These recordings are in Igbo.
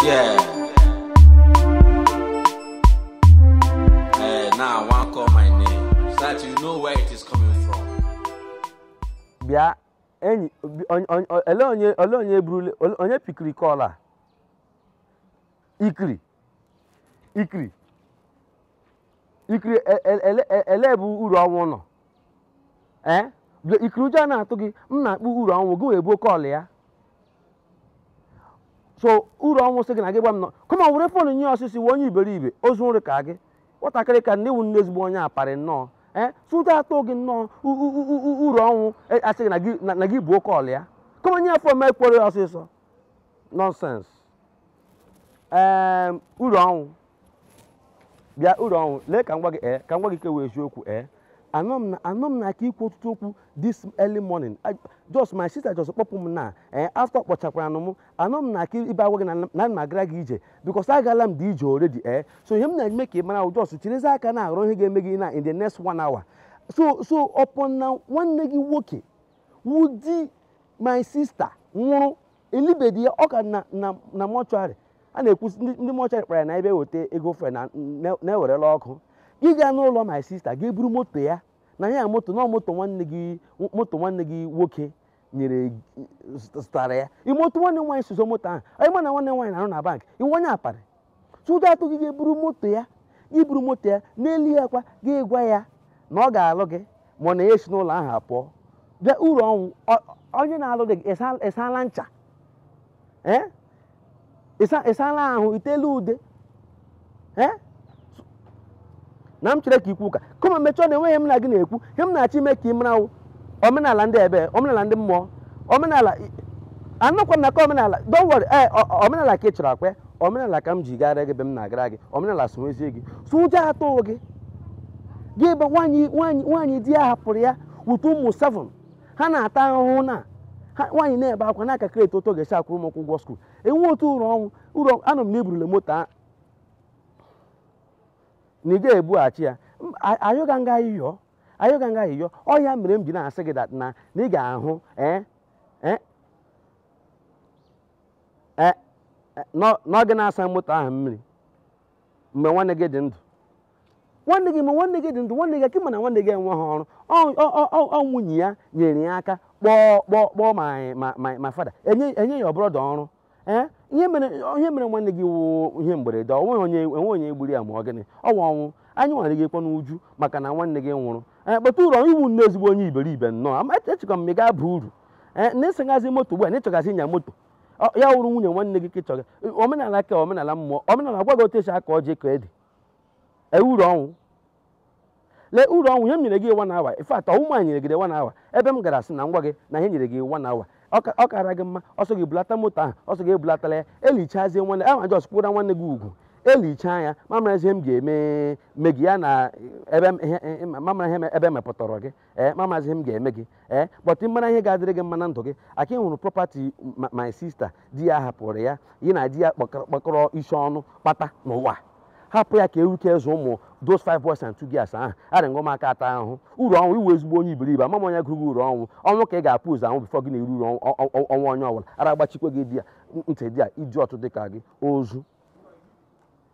Yeah. Hey, now I want to call my name so that you know where it is coming from. bịa enyi bi- onye- onye- olee onye olee onye burule onye pikiri kọl a ikiri ikiri ikiri e- e- ele- e- elee ebe uru ọnwụ nọ ee bịa- ikiri ụjọ ọ na-atụ gị m na-akpọ uru ọnwụ gị wee buo kọl ya so uru ọnwụ sị gị na gị gwa m no come on were fon nye ya ọsịsọ wee onye iberibe ozu nri ka gị nwatakịrị ka nne wu nne ezigbo onye aparị nnọọ ee so ụjọ atụ gị nnọọ u- u- u- u- uru ọnwụ e- asị gị na gị- na- na gị buo kọl ya come on nye ya fon m kwuoro ya ọsịsọ nọnsens ee uru ọnwụ bịa uru ọnwụ lee ka m gwa gị ee ka m gwa gị nke wụ eziokwu ee anọ m na anọ m na aka ikwu ọtụtụ okwu this early morning I- just my sister just kpọpụ m na ee after kpọchakwara m anọ m na aka ibe agwa gị na na ana m agara gị ije because agala m dị ije already ee so ihe m na-eme ka ị mara ahụ just chirizi aka na-arụ ihe ga-eme gị na in the next one hour so so upon na nwanne gị nwoke wụ di my sister nwụrụ elibedi ya ọ ka nọ na na mọchụarị a na-ekwu sị ndị ndị mọchụarị kpara ya na ebe eweta ego fre na na- na i werela ụkwụ gị gaa n'ụlọ my sista ga-eburu moto ya na ya moto na moto nwanne gị moto nwanne gị nwoke nyere zụtara ya ị ma otu nwanne m nwaanyị si zụọ moto ahụ ị ma na nwanne m nwaanyị na-arụ na bank ị wụ onye aparị so ụjọ atụ gị ga-eburu moto ya gị buru moto ya n'elu ya kwa gị gwa ya na ọ ga-alụ gị ma ọ na ya esi n'ụlọ ahụ apụọ bịa uru ọnwụ ọ- onye na-alụ dị gị ịsa- ịsala ncha ee ịsa- ịsala ahụ itela ude ee na m chere ka ikwu ụka come on mechie ọnụ enweghị ihe m na gị na-ekwu ihe m na-achọ ime ka ị mara wụ omenala ndị ebe omenala ndị mmụọ omenala anọkwa m na aka omenala don't worry ee o- o- omenala ka ị chọrọ ọ kwa ya omenala ka m ji gara gị ebe m na-agara gị omenala sonwezie gị so ụjọ atụ gị gị ebe nwaanyị nwaanyị nwaanyị di ya hapụrụ ya with ụmụ seven ha na-ata ahụhụ na ha nwaanyị na-ebe akwa na-akalkuleti otu ọ ga-esi akwụrụ ụmụ ụkwụ ụgwọ skuul enwe otu uru ọnwụ uru anụ m na i burule moto a na ị ga-ebughachi ya M- a- ayọga m gị ayịyọ ayọga m gị ayịyọ ọ ya mere m ji na-asị gị that na na ị ga-ahụ eh, eh, eh, eh, nọ- na ọ gị na-asa moto ahụ mmiri mgbe nwanne gị dị ndụ nwanne gị ma nwanne gị dị ndụ nwanne gị nwoke ị ma na nwanne gị enweghị ọrụ Ọ- ọ- ọ- ọ- ọ nwunye ya nyere ya aka kpọọ kpọọ kpọọ my my- my my father enye enye your brother ọrụ ee ihe mere ihe mere nwanne gị wụ ihe mberede ọ nweghị onye enwe onye gburu ya ma ọ gịnị ọ wụ ọnwụ anyị nwere gị kwa n'uju maka na nwanne gị nwụrụ ee but uru ị wụ nnọọ ezigbo onye iberibe nnọọ ama echekwa m ị ga-aba uru ee na ị segazi moto ugbu a na ị chọgazi ịnya moto Ọ- ya wụrụ nwunye nwanne gị ka ị chọga omenala ka omenala mmụọ omenala gwa gị otu e si akọ ji akọ ede ee uru ọnwụ lee uru ọnwụ ihe m nyere gị one hour in fact ọ wụ m nyere gị one hour ebe m gara sị na m gwa gị na ha nyere gị one hour ọ kara gị mma ọ sọ gị bulata moto ahụ ọ sọ gị ebulatala ya elichazie nwanne ahụ a jọs kwụra nwanne gị ugwu elichaa ya m amara ihe m ga-eme me gị ya na ebe m amara ihe ebe m mepụtara gị ee m amazi ihe m ga-eme gị ee but mara ihe ga-adịrị gị mma na ndụ gị aka ị hụrụ property ma- my sister di ya hapụrụ ya ya na di ya kpọkọrọ kpọkọrọ isi ọnụ kpata n'ụwa hapụ ya ka e were zụọ ụmụ those five boys and two girls ahụ arị ngwa m aka ata ahụhụ uru ọnwụ ị wụ ezigbo onye iberibe ama m onye gụrụ gị uru ọnwụ ọnwụ ka ị ga-ebu ụzọ anwụ bifọ gị na-eri uru ọnwụ- ọ- ọ- ọnwụ onye ọbụla ara agbachikwa gị dia ntị dia idiot dị ka gị ozu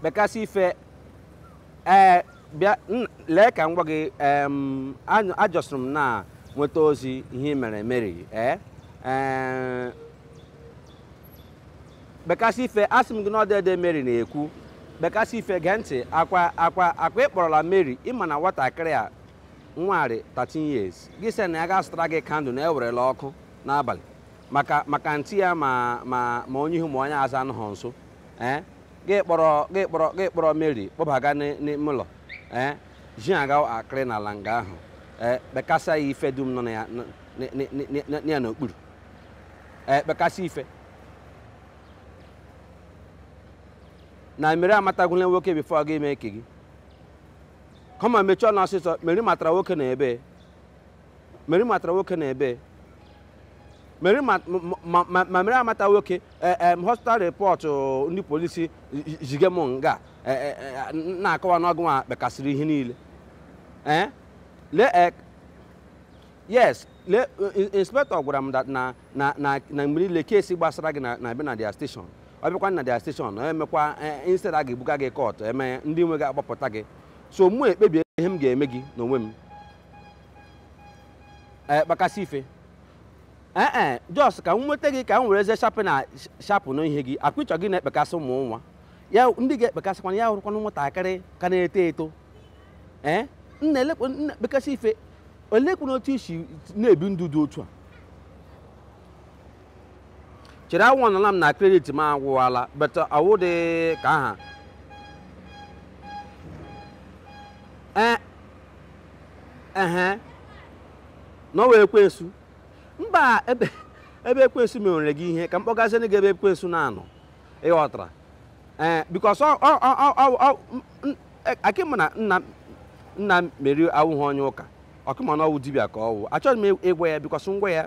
kpekasị ife ee bịa n- lee ka m gwa gị em, anyụ- a jọs rị m na-enweta ozi ihe i mere meri ee ee, kpekasị ife asị m gị na ọ dede meri na-ekwu kpekasị ife gee ntị akwa akwa akwa ị kpọrọla meri ị ma na nwatakịrị a nwa rị 13 years gị sị na ya ga-azụtara gị kandụl na ewerela ọkụ n'abalị maka maka ntị ya ma ma ma onye ihu ma onye azụ anọghị nso ee gị kpọrọ gị kpọrọ gị kpọrọ mary kpọbaga n'ị- n'ime ụlọ ee ji aga akịrị n'ala nga ahụ ee kpekasa ya ife dum nọ na ya n- n- n- n- n- ya n'okpuru ee kpekasị ife na meri amatagwula nwoke bifo ọ ga-eme ike gị come on mechie ọnụ ọsịsọ meri matara nwoke n'ebee Meri matara nwoke n'ebee Meri ma ma- ma- ma Meri amata nwoke eh, em, hospital report oh, ndị polisi zige m nga eh, eh, eh, na-akọwa na ọ gị nwa kpekasịrị ihe niile Eh? lee eh, yes le in- inspector gwara m that na na na na mgbe niile kesi gbasara gị na na-abịa na dia station ọ bịakwa na dia station ọ emekwa eh, instead a ga-ebuga gị kọt eme ndị nwe gị agbapụta gị so mụ ekpebie ihe m ga-eme gị n'onwe m ee eh, kpakasị ife ee eh, eh, jos ka m nweta gị ka m were eze shapụ na shapụ na ihe gị akpịchọ gị na-ekpekasị ụmụ nwaanyị ndị ga-ekpekasịkwana ya wụrụkwana nwatakịrị ka na-eto eto ee nna kpekasị ife olekwana otu i si na-ebi ndụ dị otu a chere ahụnọla m na kredit m agwụwala but awụ dị ka aha ehe na ọ wụ ekwensu mba ebe ebe ekwensu mewere gị ihe ka m kpọgazienụ gị ebe ekwensu na-anọ ị ghọtara ee eh, bikos akị m na nna nna meri awụghị onye ụka ọ kama na ọwụ dibịa ka ọwụ achọghị m ịgwa ya bikos ngwa ya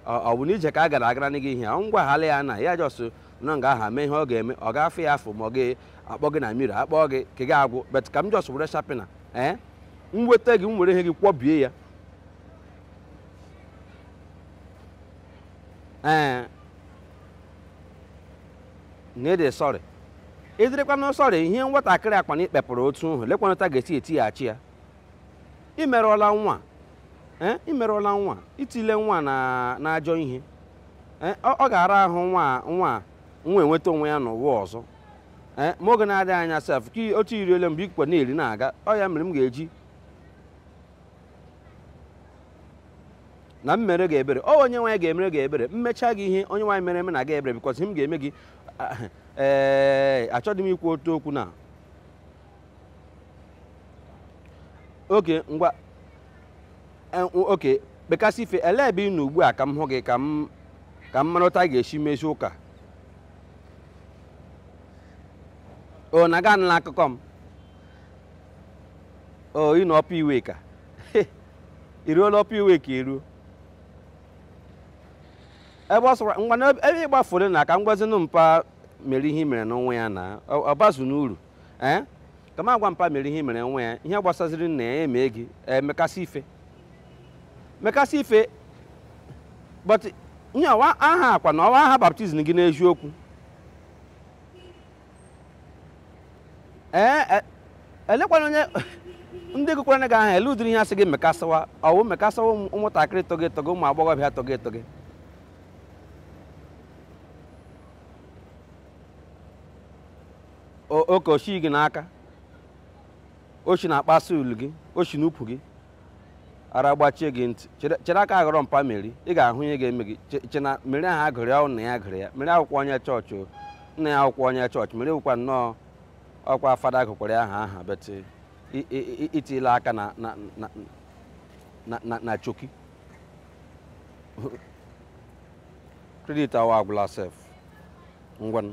ọ bụ n'ije ka a gara agara gị ihe ọ ngwa hala ya na ya jọsụ nọ nga aha mee ihe ọ ga-eme ọ ga-afụ ya afụ ma ọ ga-akpọ gị na mmiri akpọ gị ka gị agwụ bet ka m jọsụ were shapina ee m weta gị m were ihe gị kwọbie ya ee na ị dị sọrị ị dịrịkwana sọrị ihe nwatakịrị a kwa na i kpepụrụ otu nhụ lekwanụ otu a ga-esi etighachi ya ị merụọla nwa ee ị merụọla nwa i tile nwa na n'ajọ ihe ee ọ ọ ga-ara ahụ nwa nwa nwa enweta onwe ya n'ụwa ọzọ ee ma oge na-adịghị anya sef ka i- otu i riele mgbe ikwe na-eri na-aga ọ ya mere m ga-eji na m mere gị ebere ọ onye nwaanyị ga-emere gị ebere m mechaa gị ihe onye nwaanyị mere emena gị ebere bikọs ihe m ga-eme gị ah, ee achọghị m ikwu otu okwu na oke ngwa eh, oke mekasị ife elee ebe ị nọ ugbu a ka m hụ gị ka m ka m mara otu a ga-esi mezi ụka o na gị anụla akụkọ m o ị nọ Upper Iweka i ruola Upper Iweka i ruo ebe ọ sọkwa ngwa na ebe ị gbafuru na ka m gwazinụ mpa meri ihe i merenụ nwa ya na ọ ọ bazinụ uru ee ka m gwa mpa meri ihe i mere nwa ya ihe gbasaziri nna ya emee gị mekasị ife mekasị ife but ihe ọ wụ aha ọkwa na ọ wụ aha baptizim gị n'eziokwu ee e- elekwanụ onye ndị gụkwara gị aha ele ụdịrị ihe a sị gị mekasịwa ọwụ mekasịwa ụmụ- ụmụntakịrị togi etogi ụmụ agbọghọbịa togi etogi oke oshi gị n'aka oshi na-akpasu ulu gị oshi n'ukwu gị ara gbachie gị ntị chere aka ghọrọ mpa meri ị ga-ahụ ihe ga-eme gị che na meri ahụ a gụrụ ya nna ya gụrụ ya meri awụkwa onye chọọchị nna ya awụkwa onye chọọchị meri wụkwa nnọọ ọkwa fada gụkwara ya aha aha bet i tila aka na choki kredit awa agwụla sef ngwanụ